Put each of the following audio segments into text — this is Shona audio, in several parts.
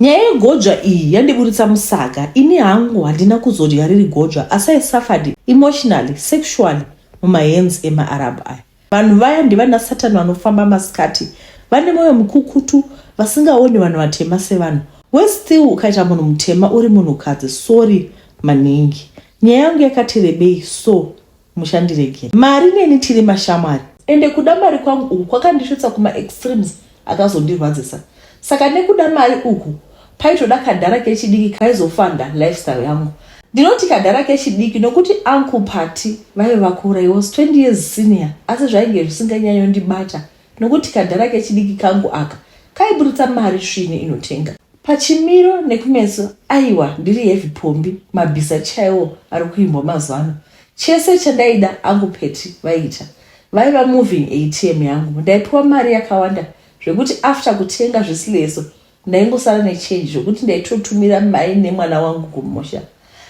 Nyaya yegodzva iyi yandiburitsa musaga ini hangu handina kuzodya riri godzva asi I suffered emotionally sexually mumahands emaArab aya. Vanhu vaya ndivanasatani vanofamba masikati vane moyo mukukutu vasingaoni vanhu vatema sevanhu. Worse still ukaita munhu mutema uri munhukadzi sorry maningi. Nyaya yangu yakati rebei so. mushandiregei mari neni tiri mashamwari ende kuda mari kwangu uku kwakandisvitsa kuma extremes akazondirwadzisa saka nekuda mari uku paitoda kadhara kechidiki kaizofanda lifestyle yangu ndinoti kadhara kechidiki nokuti uncle party vaive vakura he was 20 years senior asi zvainge zvisinganyanyondibata Nokuti kadhara kechidiki kangu aka kaiburitsa mari svinu inotenga. Pachimiro nekumeso aiwa ndiri heavy pombi mabhiza chaiwo ari kuimbwa mazuvano. Chese chandaida angu Petty vaiita. Vaiva moving ATM yangu. Ndaipiwa mari yakawanda zvekuti after kutenga zvisileso Ndaingosara nechange zvekuti ndaitotumira mai nemwana wangu kumusha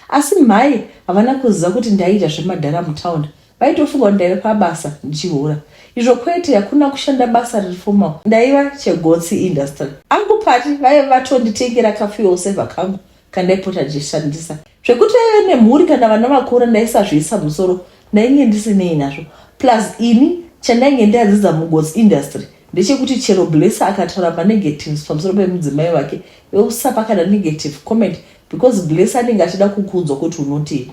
asi mhai havana kuziva kuti ndaiita zvemadhara mutown vaitofunga kuti ndaiva pabasa ndichihura izvo kwete hakuna kushanda basa riri formal ndaiva chegotsi industry angu pati vaiva vatonditengera kafuel saver kangu kandaipota ndichishandisa zvekuti aive nemhuri kana vana vakura ndaisazviisa musoro ndainge ndisinei nazvo plus ini chandainge ndadzidza mugos industry ndechekuti chero blesser akataura manegatives pamusoro pemudzimai wake usapa kana negative comment because blesser anenge achida kukuudzwa kuti unotii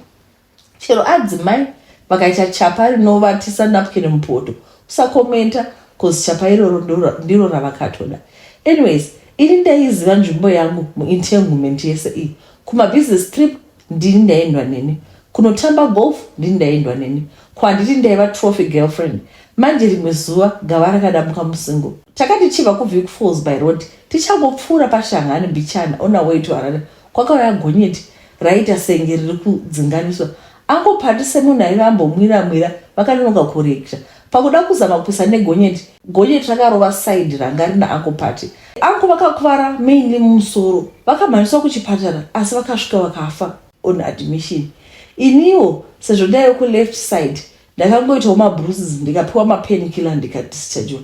Chero adzimai vakaita chapa rinovatisa napkin mupoto usakomenta cause chapa iroro ndiro- ndiro ravakatoda. Anyways, ini ndaiziva nzvimbo yangu muentanglement yese iyi. Kumabusiness trip ndini ndaiendwa neni. Kunotamba golf ndini ndaiendwa neni. Ko handiti ndaiva trophy girlfriend. Manje rimwe zuva gava rakadambuka musingle. Takati tichibva kuViewfalls by road tichangopfuura paShanghani mbichana on our way to Harare Kwakauya gonyeti raita senge riri kudzinganiswa. Uncle Pati semunhu aive ambomwira mwira vakanonoka kureacta pakuda kuzama kupisa negonyeti. Gonyeti rakarova side ranga rina Uncle Pati. Uncle vakakuvara mainly mumusoro vakamhanyiswa kuchipatara asi vakasvika vakafa on admission. Iniwo sezvo ndaive kuleft side ndakangoitawo mabruises ndikapiwa mapain killer ndikadischargewa.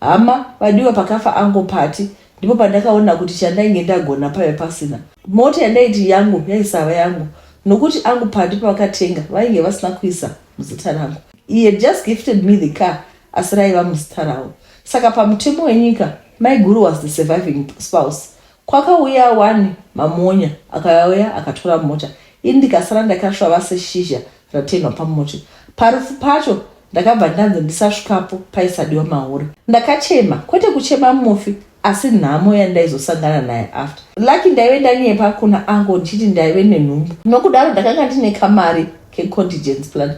Hama vadiwa pakafa ango Pati ndipo pandakaona kuti chandainge ndagona paive pasina. Mota yandaiti yangu yaisava yangu nokuti angu Pati pavakatenga vainge vasina kuisa muzita rangu. He had just gifted me the car asi raiva muzita ravo. Saka pamutemo wenyika maiguru was the surviving spouse Kwakauya wani Mamonya akauya akatora mota ini ndikasara ndakasvava seshizha ratenhwa pamuti. Parufu pacho ndakabva ndanzi ndisasvikapo paisadiwa mahure. Ndakachema kwete kuchema mufi asi nhamo yandaizosangana naye after. Lucky ndaive ndanyepa kuna uncle ndichiti ndaive nenhumbu nokudaro ndakanga ndine kamari kecontigence plan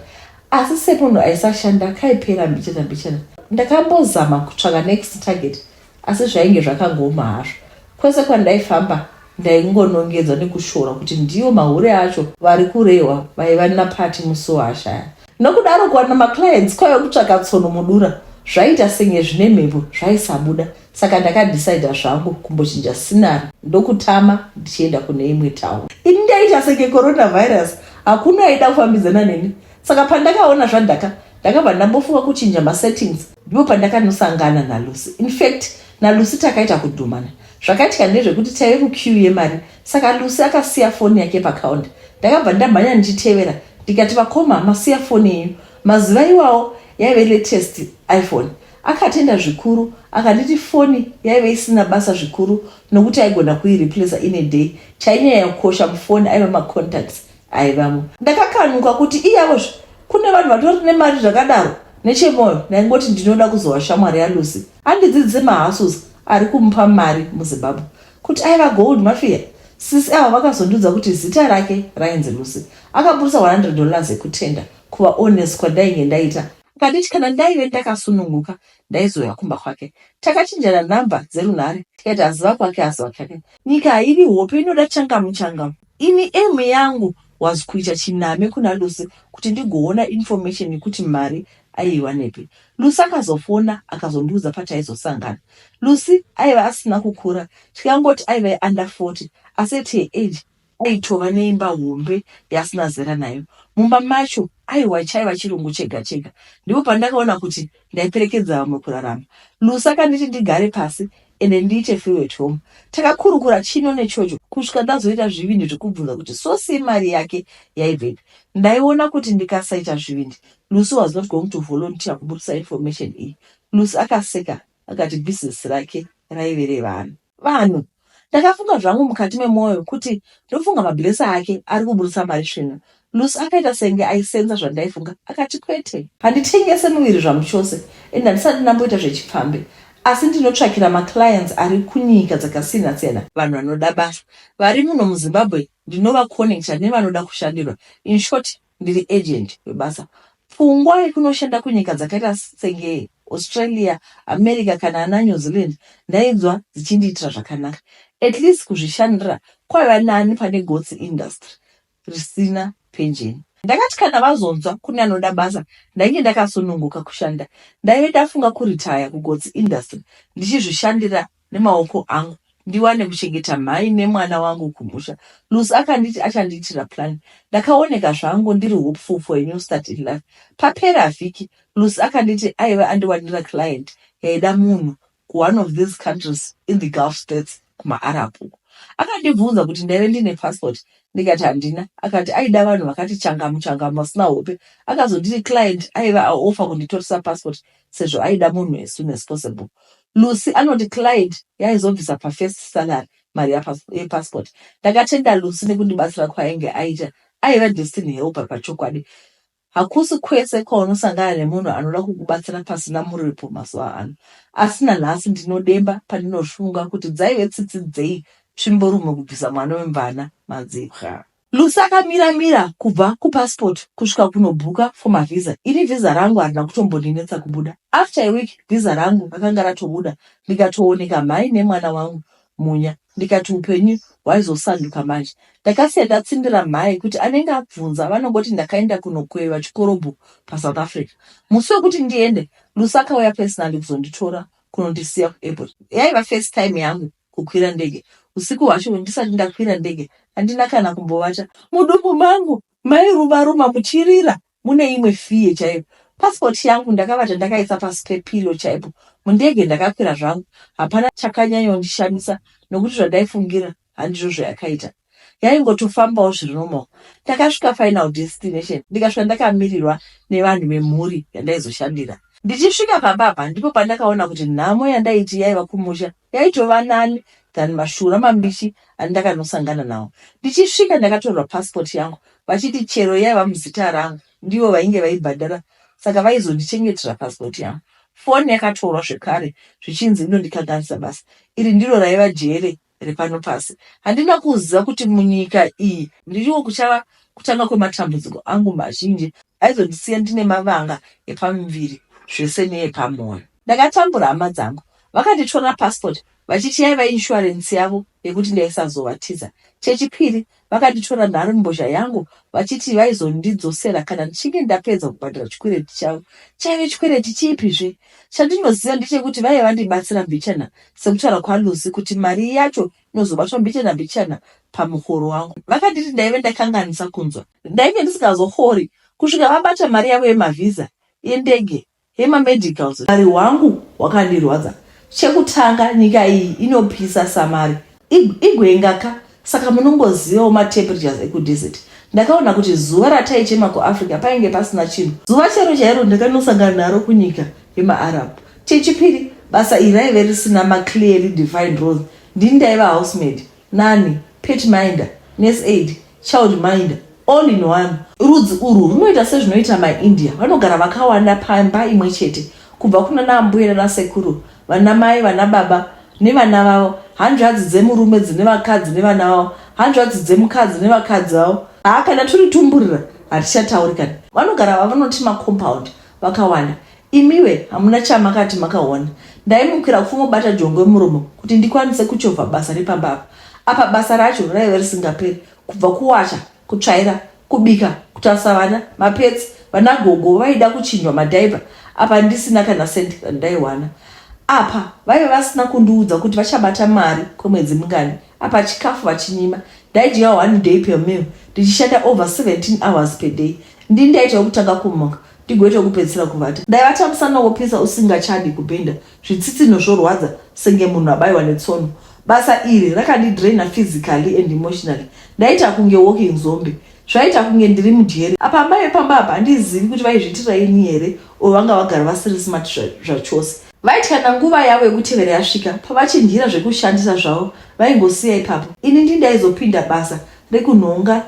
asi semunhu aisashanda kaipera mbichana mbichana. Ndakambozama kutsvaka next target Asi zvainge zvakagooma hazvo. Kwese kwandaifamba ndaingonongedzwa nekushora kuti ndiwo mahure acho vari kurehwa vaiva naParty Musuwasha aya. Nokudaro kuwana maclients kwaive kutsvaka tsono mudura. Zvaiita senge zvine mhepo zvaisabuda saka ndakadecider zvangu kumbochinja scenery ndokutama ndichienda kune imwe town. Ini ndaiita senge coronavirus hakuna aida kufambidzana neni saka pandakaona zvadhaka ndakabva ndambofunga kuchinja masettings Ndipo pandakanosangana naLucy. In fact, naLucy takaita kudhumana. Zvakaitika ndezvekuti taive muqueue yemari saka Lucy akasiya foni yake pacounter. Ndakabva ndamhanya ndichitevera ndikati, vakoma masiya foni yenyu. Mazuva iwawo yaive latest iPhone. Akatenda zvikuru akanditi foni yaive isina basa zvikuru nokuti aigona kuireplacer in a day. Chainyanya kukosha mufoni aiva macontacts. aivamo ndakakanuka kuti iyawozve kune vanhu vatori nemari zvakadaro nechemoyo ndaingoti ndinoda kuzova shamwari yalucy andidzidzise mahasus ari kumupa mari muzimbabwe kuti aiva gold mafiya sisi avo vakazondiudza kuti zita rake rainzi lucy akaburitsa 100 dollars ekutenda kuvaones kwandainge ndaita akanditi kana ndaive ndakasununguka ndaizouya kumba kwake takachinjana nhamba dzerunhare tikaita ziva kwake aziva kake nyika haivi hope inoda changamu changamu Ini aim yangu was kuita chiname kuna Lucy kuti ndigoona information yekuti mari aiiwanepi. Lucy akazofona akazondiudza pataizosangana. Lucy aiva asina kukura tikangoti aiva under 40 asi at her age aitova neimba hombe yaasina zera nayo. Mumba macho aiwa chaiva chirungu chega chega. Ndipo pandakaona kuti ndaiperekedza vamwe kurarama. Lucy akanditi ndigare pasi ende ndiite free at home takakurukura chino nechocho kusvika ndazoita zvivindi zvekubvunza kuti so sei mari yake yaibvepi ndaiona kuti ndikasaita zvivindi lucy was not going to volunteer kubudisa information iyi lucy akaseka akati business rake raive revanhu vanhu ndakafunga zvangu mukati memwoyo kuti ndofunga mablesa ake ari kuburitsa mari svinu Lucy akaita senge aisenza zvandaifunga akati kwete. Handitengese muviri zvangu chose and handisati ndamboita zvechipfambi asi ndinotsvakira maclients ari kunyika dzakasiyana siyana. Vanhu vanoda basa vari muno muZimbabwe ndinovaconnecta nevanoda kushandirwa in short ndiri agent webasa. Pfungwa yekunoshanda kunyika dzakaita senge Australia, America kana ana New Zealand ndainzwa dzichindiitira zvakanaka. At least kuzvishandira kwaiva nani pane gotsi industry. risina penjeni. Ndakati kana vazonzwa kune anoda basa ndainge ndakasununguka kushanda. Ndaive ndafunga kuritaya kuGotsi Industry ndichizvishandira nemaoko angu ndiwane kuchengeta mhai nemwana wangu kumusha. Lucy akanditi achandiitira plan. Ndakaoneka zvangu ndiri hopeful for a new start in life. Papera vhiki Lucy akanditi aive andiwanira client yaida munhu ku one of these countries in the gulf states kuma Arab uko. Akandibvunza kuti ndaive ndine passport ndikati handina akati aida vanhu vakati changamu changamu vasina hope. Akazonditi client aive a offer kunditoresa passport sezvo aida munhu as soon as possible. Lucy anoti client yaizobvisa pa first salary mari ya passport. Ndakatenda Lucy nekundibatsira kwaainge aita. Aive destiny helper pachokwadi. Hakusi kwese kwaunosangana nemunhu anoda kukubatsira pasina muripo mazuva ano. Asi nanhasi ndinodemba pandinofunga kuti dzaive tsitsi dzei tsvimborume kubvisa mwana wemvana madzibwa. Lucy akamira mira kubva kupassport kusvika kunobhuka for mavisa. Ini visa rangu harina kutombondinetsa kubuda. After a week visa rangu rakanga ratobuda ndikatooneka mhai nemwana wangu Munya ndikati hupenyu hwaizosanduka manje. Ndakasiya ndatsindira mhai kuti anenge abvunza vanongoti ndakaenda kunokoiva chikorobho paSouth Africa. Musi wekuti ndiende, Lucy akauya personally kuzonditora kunondisiya kuairport. Yaiva first time yangu kukwira ndege. Husiku hwacho ndisati ndakwira ndege handina kana kumbovata. Mudumbu mangu mairumaruma muchirira Mune imwe fear chaiyo. Passport yangu ndakabata ndakaisa pasi pepillow chaipo. Mundege ndakakwira zvangu. Hapana chakanyanyondishamisa nokuti zvandaifungira handizvo zvayakaita. Yaingotofambawo zviri normal. Ndakasvika final destination ndikasvika ndakamirirwa nevanhu vemhuri yandaizoshandira. Ndichisvika pamba apa ndipo pandakaona kuti nhamo yandaiti yaiva kumusha Yaitova nani than mashura mambishi andakanosangana nawo. Ndichisvika ndakatorerwa passport yangu vachiti chero yaiva muzita rangu ndivo vainge vaibhadhara saka vaizondichengetera passport yangu. Foni yakatorwa zvekare zvichinzi inondikanganisa basa. Iri ndiro raiva jere repano pasi. Handina kuziva kuti munyika iyi ndiriwo kuchava kutanga kwematambudziko angu mazhinji aizondisiya ndine mavanga epamuviri zvese neepamwoyo. Ndakatambura hama dzangu Vakanditorera passport vachiti yaiva insurance yavo yekuti ndaisazovatiza. Chechipiri, vakanditorera nharembozha yangu vachiti vaizondidzosera kana ndichinge ndapedza kubhadhara chikwereti chavo. Chaive chikwereti chipi zve? Chandinoziva ndechekuti vaive vandibatsira mbichana sekutaura kwaLucy kuti mari yacho inozobatwa mbichana mbichana pamuhoro wangu. Vakanditi ndaive ndakanganisa kunzwa. Ndainge ndisingazohori kusvika vabata mari yavo yemavhiza endege Hema medicals mari hwangu hwakandirwadza chekutanga nyika iyi inopisa samari igwenga ka saka munongozivawo matemperatures ekudesert ndakaona kuti zuva rataichema kuafrica painge pasina chinhu zuva chero chairo ndakanosangana naro kunyika yemaarab chechipiri basa iri raive risina maclearly defined roles ndini ndaiva housemaid Nani, pit minder, nurse aid, child minder, all in one. Rudzi urwu runoita sezvinoita maIndia, vanogara vakawanda pamba imwe chete, kubva kunana ambuya nana sekuru, vana mai, vana baba nevana vavo, hanzvadzi dzemurume dzine vakadzi nevana vavo, hanzvadzi dzemukadzi nevakadzi vavo. Haa kana turi tumburira hatichatauri kana. Vanogara vavanoti macompound vakawanda Imiwe hamuna chamakati makaona. Ndaimukira kufumo bata jongwe muromo kuti ndikwanise kuchovha basa repamba apa. Apa basa racho raive risingaperi kubva kuwacha, kutsvaira, kubika, kutarisa vana, mapetsi, vana gogo vaida kuchinjwa madhaipa apa ndisina kana cent randaiwana. Apa vaive vasina kundiudza kuti vachabata mari kwemwedzi mingani. Apa chikafu vachinyima. Ndaidya one day per meal ndichishanda over 17 hours per day. Ndini ndaitawo kutanga kumuka ndigoita kupedzisira kuvata dai vachamusana wopisa usingachadi kubhinda zvitsitsinho zvorwadza senge munhu abaiwa netsono basa iri rakandidraina physically and emotionally ndaita kunge walking zombe zvaita kunge ndiri mudyeri apa amai vepamba apa handizivi kuti vaizviitira ini here or vanga vagara vasiri smart zvachose vaiti kana nguva yavo yekutevera yasvika pavachinhira zvekushandisa zvavo vaingosiya ipapo ini ndi ndaizopinda basa rekunhonga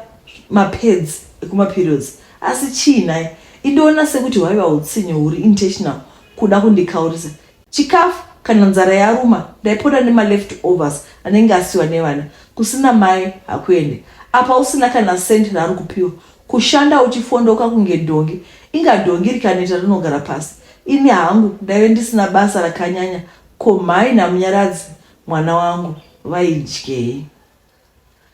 mapads ekumaperiods Asi chii nhai? Indoona sekuti hwaiva utsinye huri intentional kuda kundikaurisa chikafu kana nzara yaruma ndaipota nemaleft overs anenge asiwa nevana kusina mai hakuende apa usina kana cent raari kupiwa kushanda uchifondoka kunge dhongi inga dhongi rikaneta rinogara pasi ini hangu ndaive ndisina basa rakanyanya ko mhai namunyaradzi mwana wangu vaidyei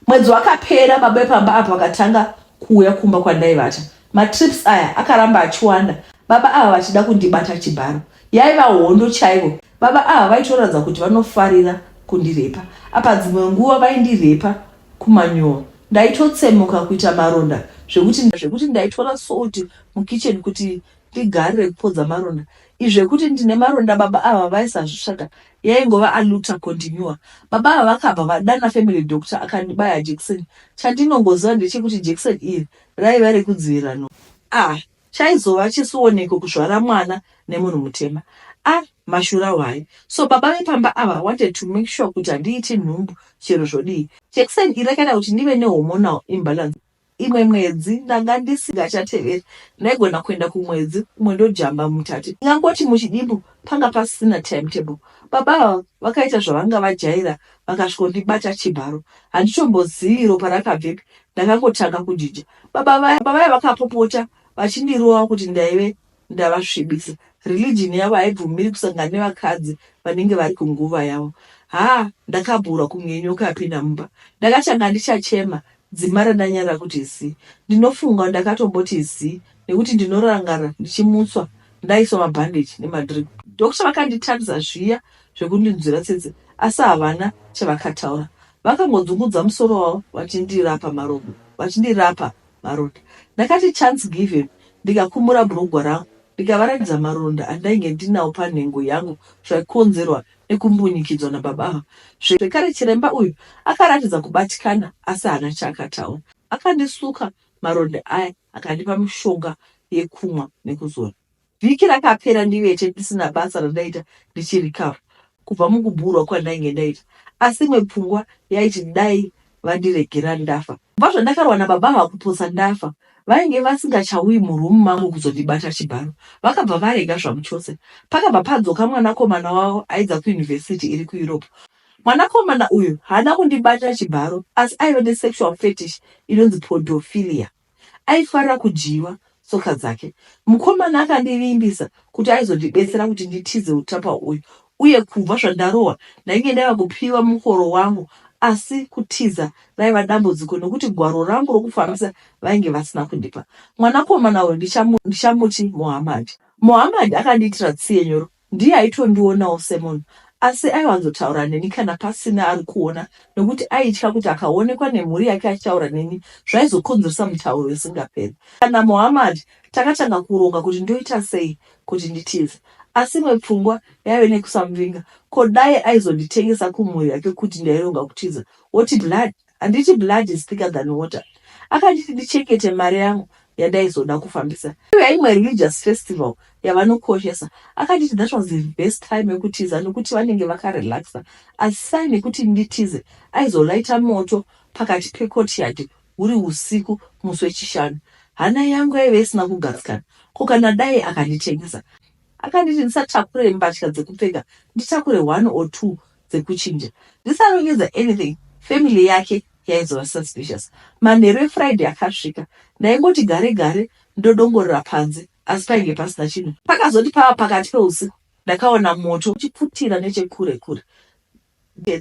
Mwedzi wakapera baba vepamba apa vakatanga kuuya kumba kwandaivata. Matrips aya akaramba achiwanda, baba ava vachida kundibata chibharo. Yaiva hondo chaivo. Baba ava vaitoratidza kuti vanofarira kundirepa. Apa dzimwe nguva vaindirepa kumanyowa. Ndaitotsemuka kuita maronda zvekuti zvekuti ndaitora salt mukitchen kuti Igare rekupodza maronda izvi zvekuti ndine maronda baba ava vaisazvitsvaga yaingova aluta continua baba ava vakabva vadana family doctor akandibaya jekiseni chandinongoziva ndechekuti jekiseni iri raiva rekudzivirira no ah chaizova chisioneko kuzvara mwana nemunhu mutema a ah, mashura hwai so baba vepamba ava wanted to make sure kuti handiiti nhumbu chero zvodii jekiseni iri rakaita kuti ndive nehomonal imbalance Imwe mwedzi ndanga ndisingachateveri ndaigona kuenda kumwedzi umwe ndojamba mutatu ndingangoti muchidimbu panga pasisina time table baba ava vakaita zvavanga vajaira vakasvikondibata chibharo handitombozivi ropa rakabvepi ndakangotanga kujija baba vaya vakapopota vachindirova kuti ndaive ndavasvibisa religion yavo haibvumiri kusangana nevakadzi vanenge vari kunguva yavo haa ndakabhurwa kunge nyoka yapinda mumba ndakatanga ndichachema dzima randanyarira kuti zi ndinofunga ndakatomboti zi nekuti ndinorangarira ndichimutswa ndaiswa mabhandage nemadrip doctor vakanditarisa zviya zvekundinzwira tsitsi asi havana chavakataura vakangodzungudza musoro wavo vachindirapa marobo vachindirapa maronda. Ndakati chance given ndikakumura bhurugwa rangu ndikavaratidza maronda andainge ndinawo panhengo yangu zvaikonzerwa nekumbunyikidzwa nababa ava. Zvekare chiremba uyu akaratidza kubatikana asi haana chaakataura. Akandisuka maronda aya akandipa mishonga yekumwa nekuzora. Vhiki rakapera ndivete ndisina basa randaita ndichirikava kubva mukubhurwa kwandainge ndaita asi imwe pfungwa yaiti dai vandiregera ndafa. Kubva zvandakarwa nababa ava kupotsa ndafa vainge vasingachauyi muroom mangu kuzondibata chibharo vakabva varega zvamuchose. Pakabva padzoka mwanakomana wavo aidza kuuniversity iri kuEurope. Mwanakomana uyu haana kundibata chibharo asi aive nesexual fetish inonzi podophilia. Aifarira kudyiwa tsoka dzake. Mukomana akandivimbisa kuti aizondibetsera kuti nditize utapa uyu uye kubva zvandarohwa ndainge ndava kupiwa mukoro wangu asi kutiza raiva dambudziko nokuti gwaro rangu rokufambisa vainge vasina kundipa. Mwanakomana uyu ndichamuti Mohamad. Mohamad akandiitira tsiye nyoro Ndiye aitondionawo semunhu asi aiwanzotaura neni kana pasina ari kuona nokuti aitya kuti akaonekwa nemhuri yake achitaura neni zvaizokonzeresa mutauro isingaperi. Kana Mohammad takatanga kuronga kuti ndoita sei kuti nditize asi imwe pfungwa yaive nekusamuvinga ko dai aizonditengesa kumhuri yake kuti ndaironga kutiza woti blood Handiti blood is thicker than water. Akanditi ndichengete mari yangu yandaizoda kufambisa yaimwe religious festival yavanokoshesa. Akanditi that was the best time yekutiza nekuti vanenge vakarelaxa. As sign yekuti nditize aizolaita moto pakati pecourtyard huri usiku musi wechishanu. Hana yangu yaive isina kugadzikana ko kana dai akanditengesa. Akanditi ndisatakure mbatya dzekupfeka nditakure one or two dzekuchinja dzisanonyudza anything family yake yaizova suspicious manheru efriday akasvika ndaingoti gare gare ndodongorera panze asi painge pasina chinhu pakazoti pava pakati peusiku ndakaona moto uchipfutira nechekure kure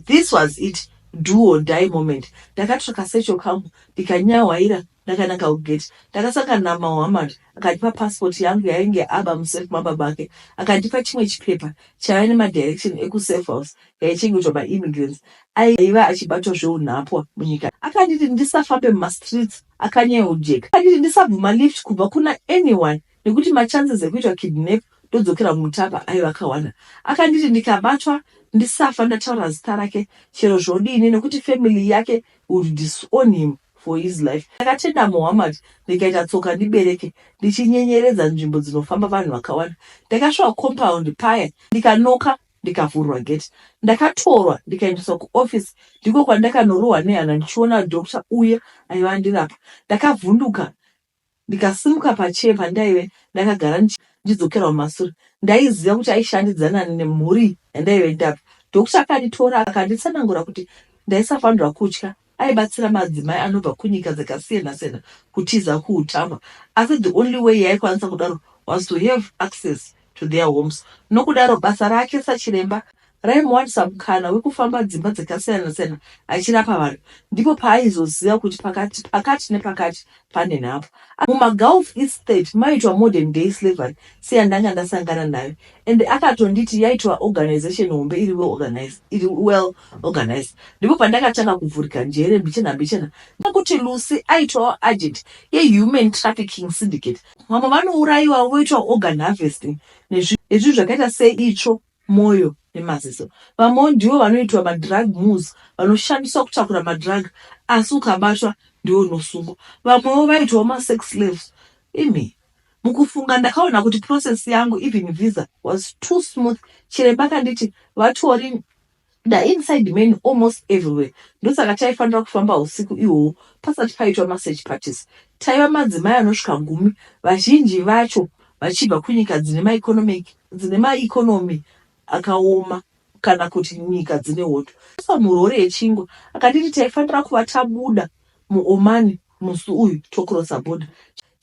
this was it duo die moment ndakatsvaka secho kangu ndikanyahwaira Ndakananga kugate ndakasangana na Mohammed akandipa passport yangu yainge aba mu safe mababa ake akandipa chimwe chipepa chaiva nema direction eku safe house yaichengetwa ma immigrants aiva achibatwa zveunhapwa munyika akanditi ndisafambe muma streets akanyeujeka akanditi ndisabvuma lift kubva kuna anyone nekuti ma chances ekuitwa kidnap ndodzokera mumutapa aiva akawanda akanditi ndikabatwa ndisafa ndataura zita rake chero zvodini nekuti family yake would disown him for his life. Ndakatenda Muhammad ndikaita tsoka ndibereke ndichinyenyeredza nzvimbo dzinofamba vanhu vakawanda. Ndakasvika compound paya ndikanoka ndikavhurwa gate. Ndakatorwa ndikaendeswa kuoffice ndiko kwandakanorohwa nehana ndichiona doctor uya aiva andirapa. Ndakavhunduka Ndikasimuka pachair pandaive ndakagara ndichidzokera kumasure. Ndaiziva kuti aishandidzana nemhuri yandaive ndabva. Doctor akanditora akanditsanangura kuti ndaisafanirwa kutya. Aibatsira madzimai anobva kunyika dzakasiyana siyana kutiza kuutambwa asi the only way yaaikwanisa kudaro was to have access to their homes nokudaro basa rake sachiremba raimuwanisa mukana wekufamba dzimba dzakasiyana-siyana achirapa vanhu ndipo paaizoziva kuti pakati pakati nepakati pane nhapo mumagulf estate maitwa modern day slavery seyandanga ndasangana nayo and akatonditi yaitwa organization hombe iri organized iri well organized ndipo pandakatanga kuvhurika njere mbichena mbichena nekuti lucy aitwawo agent yehuman trafficking syndicate Vamwe vanourayiwa voitwa organ harvesting nezvinhu zvakaita seitsvo, mwoyo nemaziso. Vamwewo ndivo vanoitwa madrug mules vanoshandiswa kutakura madrug asi ukabatwa ndiwo unosungwa. Vamwewo vaitwawo masex slaves. Imi mukufunga ndakaona kuti process yangu even visa was too smooth. Chiremba akanditi vatori Da inside men almost everywhere ndosaka taifanira kufamba husiku ihwohwo pasati paitwa masearch parties. Taiva madzimai anosvika gumi vazhinji vacho vachibva kunyika dzine maeconomic dzine maeconomy akaoma kana kuti nyika dzine hondo. Akaiswa murori yechingwa akanditi taifanira kuva tabuda muOman musi uyu tocrosser border.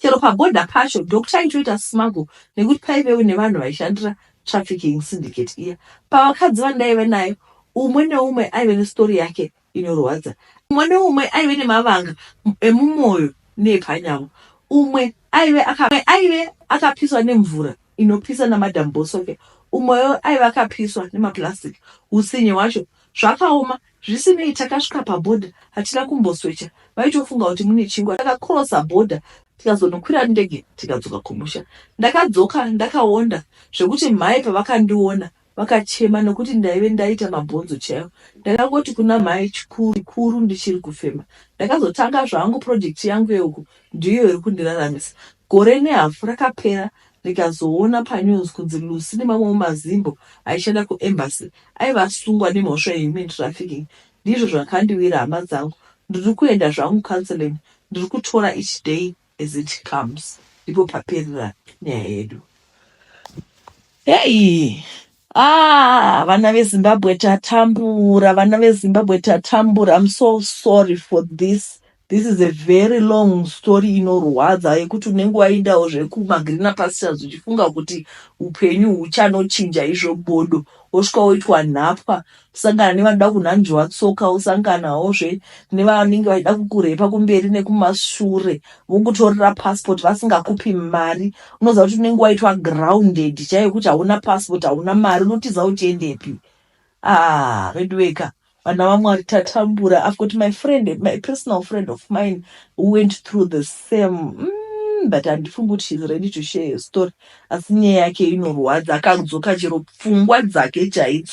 Chero paborder pacho doc taitoita smuggle nekuti paivewo nevanhu vaishandira trafficking syndicate iya. Pavakadzi vandaive nayo, umwe neumwe aive nestory yake inorwadza. Umwe neumwe aive nemavanga emumwoyo neepanyama. Umwe aive aka, aive akapiswa nemvura. inopisa naMadam Bosoke umoyo aiva akapiswa nemaplastic hutsinye hwacho zvakaoma zvisinei takasvika paborder hatina kumboswecha vaitofunga kuti mune chingwa takacrosser border tikazonokwira ndege tikadzoka kumusha ndakadzoka ndakaonda zvekuti mhai pavakandiona vakachema nokuti ndaive ndaita mabhonzo chaiwo. Ndakangoti kuna mhai chikuru kuru ndichiri kufema. Ndakazotanga zvangu project yangu yeuku ndiyo iri kundiraramisa. Gore nehafu rakapera ndikazoona panews kunzi Lucy nemamwewo mazimbo aishanda kuembassy aive asungwa nemhosva yehuman trafficking. Ndizvo zvakandiwira hama dzangu. Ndiri kuenda zvangu counselling. Ndiri kutora each day. As it comes ndipo paperera nyaya yedu heyi ah vana vezimbabwe tatambura vana vezimbabwe tatambura im so sorry for this this is a very long story inorwadza yekuti unenge waindawo zvekumagrina pastures uchifunga kuti upenyu huchanochinja izvo bodo wosvika woitwa nhapwa sangana nevanoda kunhanzviwa tsoka wosanganawozve nevanenge vachida kukurepa kumberi nekumashure vokutorera passport vasingakupi mari unoziva kuti unenge waitwa grounded chaiyo kuti hauna passport hauna mari unotiza uchiendepi ah veduweka vana vamwari tatambura i've got my friend my personal friend of mine who went through the same mm but handifungi kuti she's ready to share her story asi nyaya yake inorwadza akadzoka chero pfungwa dzake chaidzo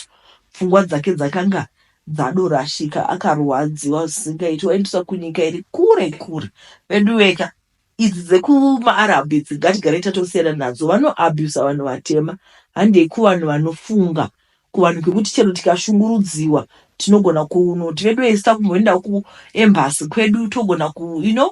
Pfungwa dzake dzakanga dzadorashika akarwadziwa zvisingaiti waendeswa kunyika iri kure kure veduweka idzi dzekumaarab idzi ngatigare tatosiyana nadzo vanoabusa vanhu vatema handei kuvanhu vanofunga kuvanhu kwekuti chero tikashungurudziwa tinogona kunoti vedu esita kumboenda kuembasi kwedu togona ku you know